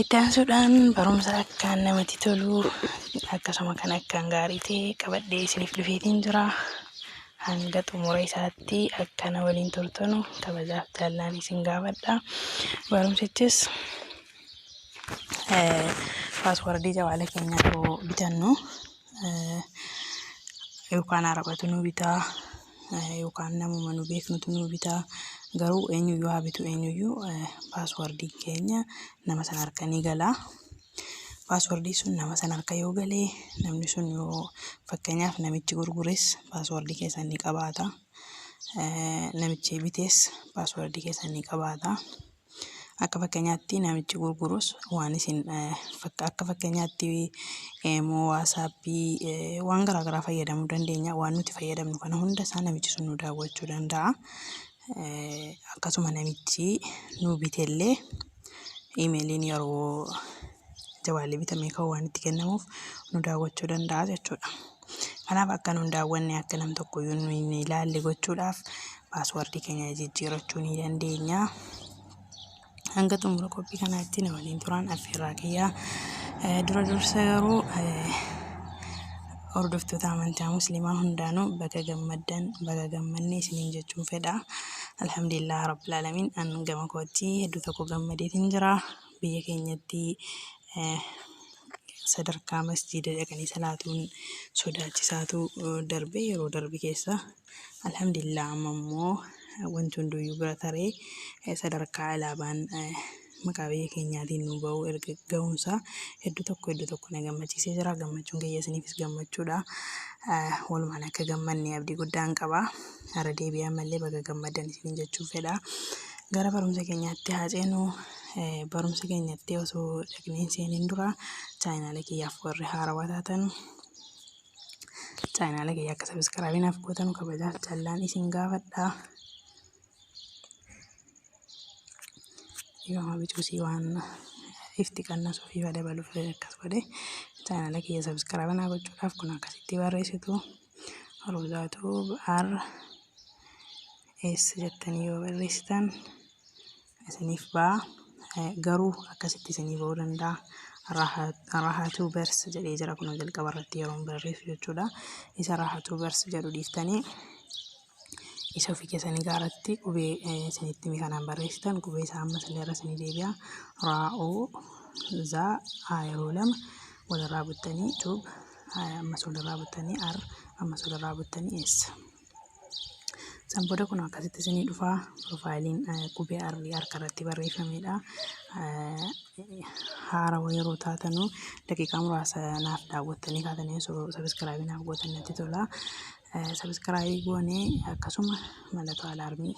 Itti aansuudhaan barumsa akkaan namatti tolu akkasuma kan akkaan gaarii ta'e qabadhee isiniif dhufeetiin jira. Hanga xumura isaatti akka na waliin turtanu kabajaaf jaallaan isin gaafadha. Barumsichis paaswardii jawaala keenyaa yoo bitannu yookaan arabatu nu bitaa yookaan namuma nu beeknutu nu bitaa garuu eenyuyyuu haa bitu eenyuyyuu paaswardii keenya nama sana harka ni gala. Paaswardii sun nama sana harka yoo galee namni sun yoo fakkeenyaaf namichi gurgures paaswardii keessan ni qabaata. Namichi bitees paaswardii keessan ni qabaata. Akka fakkeenyaatti namichi gurgurus waan isin akka fakkeenyaatti immoo waasaappii waan garaagaraa fayyadamuu dandeenya. Waan nuti fayyadamnu kana hunda isaa namichi sun nu daawwachuu danda'a. Akkasuma namichi nu bitellee imeeliin yeroo jawaalli bitamee ka'u waan itti kennamuuf nu daawwachuu danda'a jechuudha. Kanaaf akka nun daawwanne akka nam tokkoyyuu nu hin ilaalle gochuudhaaf paaswardii keenya jijjiirachuu ni dandeenya. Hanga xumura qophii kanaatti na waliin turaan affeerraa kiyyaa. Eh, Dura dursa garuu eh, hordoftoota amantaa musliimaa hundaanuu baga gammaddan baga gammanne isiniin jechuun fedha. Alhamdulillah rabbil alamin an gama kootti hedduu tokko gammadeetiin jira. biyya keenyatti sadarkaa masjiida dhaqanii salaatuun sodaachisaatu darbe yeroo darbe keessa alhamdulillah amma immoo wanti hunduyyuu bira taree sadarkaa alaabaan maqaa biyya keenyaatiin nu ba'u erga ga'umsaa hedduu tokko hedduu tokko na gammachiisee jira gammachuun kiyya isiniifis gammachuudha walumaan akka gammanne abdii guddaan qaba irra deebi'ee ammallee baga gammaddan isiniin jechuun fedha gara barumsa keenyaatti haa ceenu barumsa keenyatti osoo dhaqneen seeneen dura chaayinaala kiyyaaf warri haarawaa taatan chaayinaala kiyya akka sabiskiraabii naaf gootanu kabajaaf jaallaan isin gaafadha. Dhiifama bicuusii waan ifti qannasuu fi dabaluuf akkas godhe chaayinaala kiyya sabiskiraabii naa gochuudhaaf kun akkasitti barreessitu rozaatu ar s jettanii yoo barreessitan. isiniif ba'a garuu akkasitti isinii ba'uu danda'a rahatuu bers jedhee jira kunoo jalqaba irratti yeroon barreessu jechuudha isa rahatuu bers jedhu dhiiftanii isa ofii keessanii gaaratti qubee isinitti himi kanaan barreessitan qubee isaa amma isin irra isinii deebi'a raa'oo zaa aa yeroo lama walirraa buttanii tuub ammas walirraa buttanii ar ammas walirraa buttanii eessa San booda kun akkasitti isinii dhufa. Piroofaayiliin qubee arrii harka irratti barreeffamedha. Haarawa yeroo taatanu daqiiqaa muraasa naaf daawwattanii kaatanii osoo sabiskiraabii naaf gootan natti tola. Sabiskiraabii goonee akkasuma mallattoo alaarmii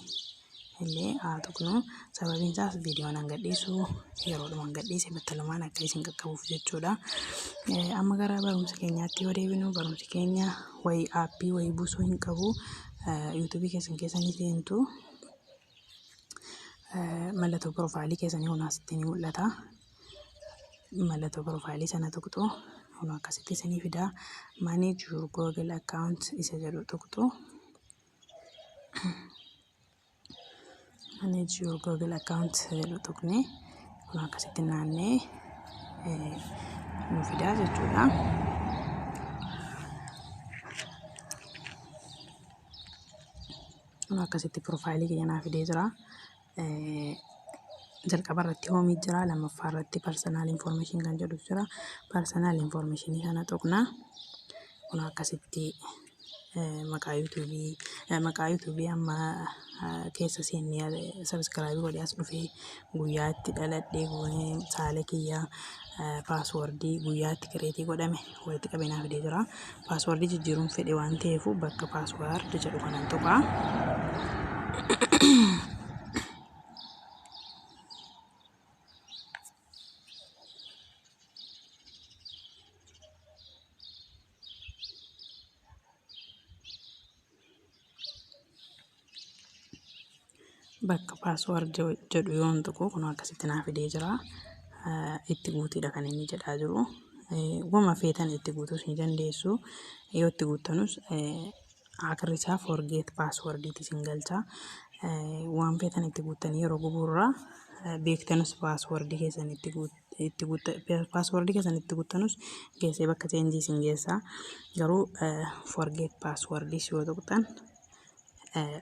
illee haa tuqnu sababiin isaas viidiyoon hanga dhiisu yeroodhuma hanga dhiise battalumaan akka isin qaqqabuuf jechuudha. Eh, Amma gara barumsa keenyaatti yoo deebinu barumsi keenya wayii aappii wayii buusuu hin qabu Eh, yuutuubii keessan keessa ni seentu Eh, mallattoo piroofaayilii keessanii kun asitti ni mul'ata. mallattoo piroofaayilii sana tuqxu kun akkasitti isinii fida manage your google account isa jedhu tuqxu manage your google account jedhu tuqne kun akkasitti naannee eh, nu fidaa jechuudha. Kun akkasitti piroofaayilii keenya naa fidee jira. jalqaba irratti hoomii jira lammaffaa irratti parsanal information kan jedhu jira parsanal information kana tuqna kun akkasitti maqaa yuutuubii maqaa yuutuubii amma keessa seennee sabiskiraabii godhee as dhufee guyyaa itti dhaladhee goonee saala kiyyaa paaswordii guyyaa itti kireetii godhame walitti qabee naa fidee jira. Paaswardii jijjiiruun fedhe waan ta'eef bakka paasward jedhu kanan tuqa. bakka paasword jedhu yoon tuqu kun akkasitti naa fidee jira itti guutiidha kan inni jedhaa jiru wama feetan itti guutuus ni dandeessu yoo itti guuttanus akirri isaa forgeet paaswordiiti isin galcha waan feetan itti guuttanii yeroo gubuurraa beektanus paaswordii keessan itti guuttu itti paaswordii keessan itti guttanuus geessee bakka cheenjii isin geessaa garuu forget paaswordii yoo tuqxan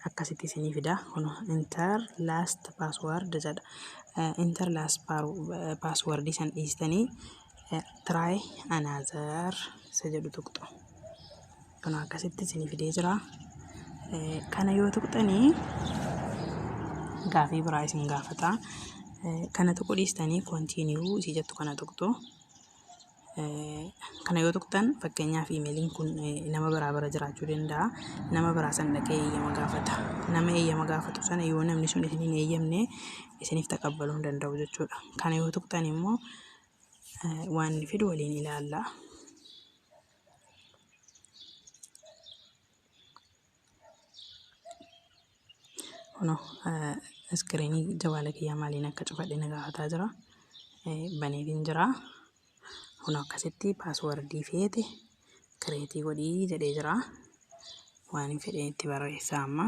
akkasitti isinii fidaa kun inter last password jedha inter last passwordii san dhiistanii try another isa jedhu tuqxu. Kun akkasitti isin fidee jira. Kana yoo tuqxanii gaafii biraa isin gaafata. Kana tuquu dhiistanii kontiiniyuu isii jettu kana tuqxu. Kana yoo tuqxan fakkeenyaaf imeeliin kun nama biraa bira jiraachuu danda'a. Nama biraa san dhaqee eeyyama gaafata. Nama eeyyama gaafatu sana yoo namni sun isin hin eeyyamne isiniif taqabbaluu hin danda'u jechuudha. Kana yoo tuqxan immoo waan inni fidu waliin ilaalla. Kuno iskiriinii jawaala kiyyaa maaliin akka cufadhe na gaafataa jira. Baneetiin jira. Kuno akkasitti paaswardii feete kireetii godhii jedhee jira. Waan hin fedhee itti barreessaa amma.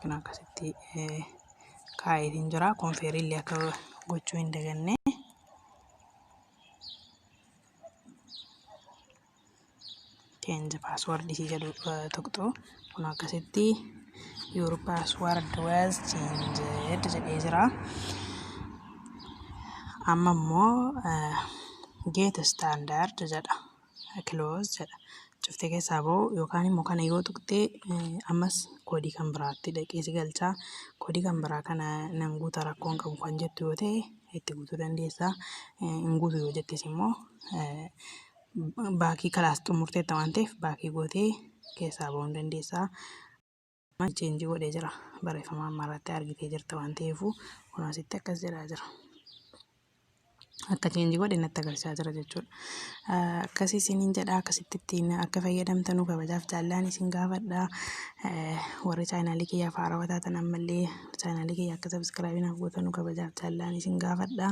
kan akkasitti kaa'eetiin jira konfeeriillee akka gochuu hin daganne change password isii jedhu tuqxu kun akkasitti your password was changed jedhee jira amma immoo get standard jedha close jedha cuftee keessaa ba'u yookaan immoo kana yoo tuqxee ammas koodii kan biraatti dhaqee si galchaa koodii kan biraa kana nan guuta rakkoon qabu kan jettu yoo ta'e itti guutuu dandeessaa hin guutu yoo jettes immoo baakii kalaas xumurteetta waan ta'eef baakii gootee keessaa ba'uu dandeessaa. maal cheenjii godhee jira barreeffama amma irratti argitee jirta waan ta'eefuu kun asitti akkas jedhaa jira. Akka cheenjii godhe natti agarsiisaa jira jechuudha. Akkasii isiniin jedha akkasitti ittiin akka fayyadamtanuu kabajaaf jaallaan isin gaafadha. Warri chaayinaalii kiyya faarawaa taatan ammallee chaayinaalii kiyya akka sabiskiraabii naaf gootanuu kabajaaf jaallaan isin gaafadha.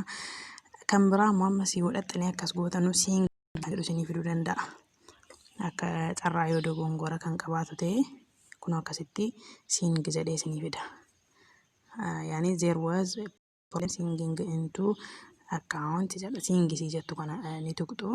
Kan biraa ammoo amma si godhattanii akkas gootanuu siin jedhu isinii fiduu danda'a. Akka carraa yoo dogoongora kan qabaatu ta'e kunoo akkasitti sing jedhee isinii fida. Yaani there was a problem singing into account jedha sing isii jettu kana ni tuqxu.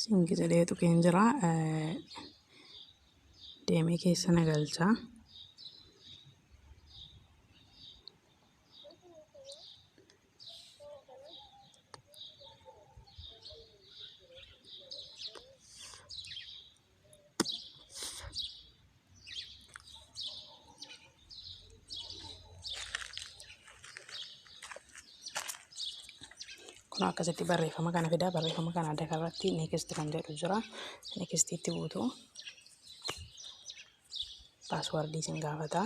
Siingi jedhee tuqeen jira. Deemee keessa na galcha. kun akkasitti barreeffama kana fidaa barreeffama kana adda irratti neekist kan jedhu jira neekistiitti buutu paaswardii isin gaafata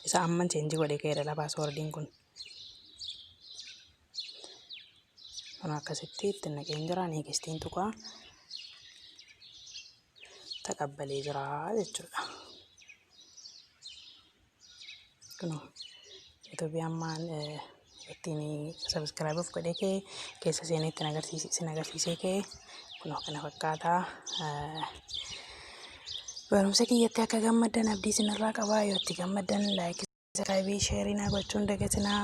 isa amman cheenji godhe ka'eedha paaswardiin kun kun akkasitti itti naqeen jira neekistiin tuqaa taqabbalee jira jechuudha. Kunoo Itoophiyaan maan ittiin sabiskiraayibuuf godhee kee keessa seenee ittiin agarsiise isin agarsiisee kee kunoo kana fakkaata. Barumsa kiyyatti akka gammaddan abdii isinirraa qabaa yoo itti gammaddan laayikii. Sabiskiraayibii sheerii naa gochuun dagatinaa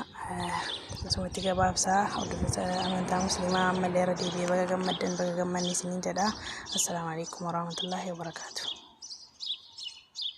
akkasumatti gabaabsaa hordoftoota amantaa musliimaa ammallee irra deebi'ee baga gammaddan baga gammanne isiniin jedha. Assalaamu alaikum warahmatullaahi wabarakaatuh.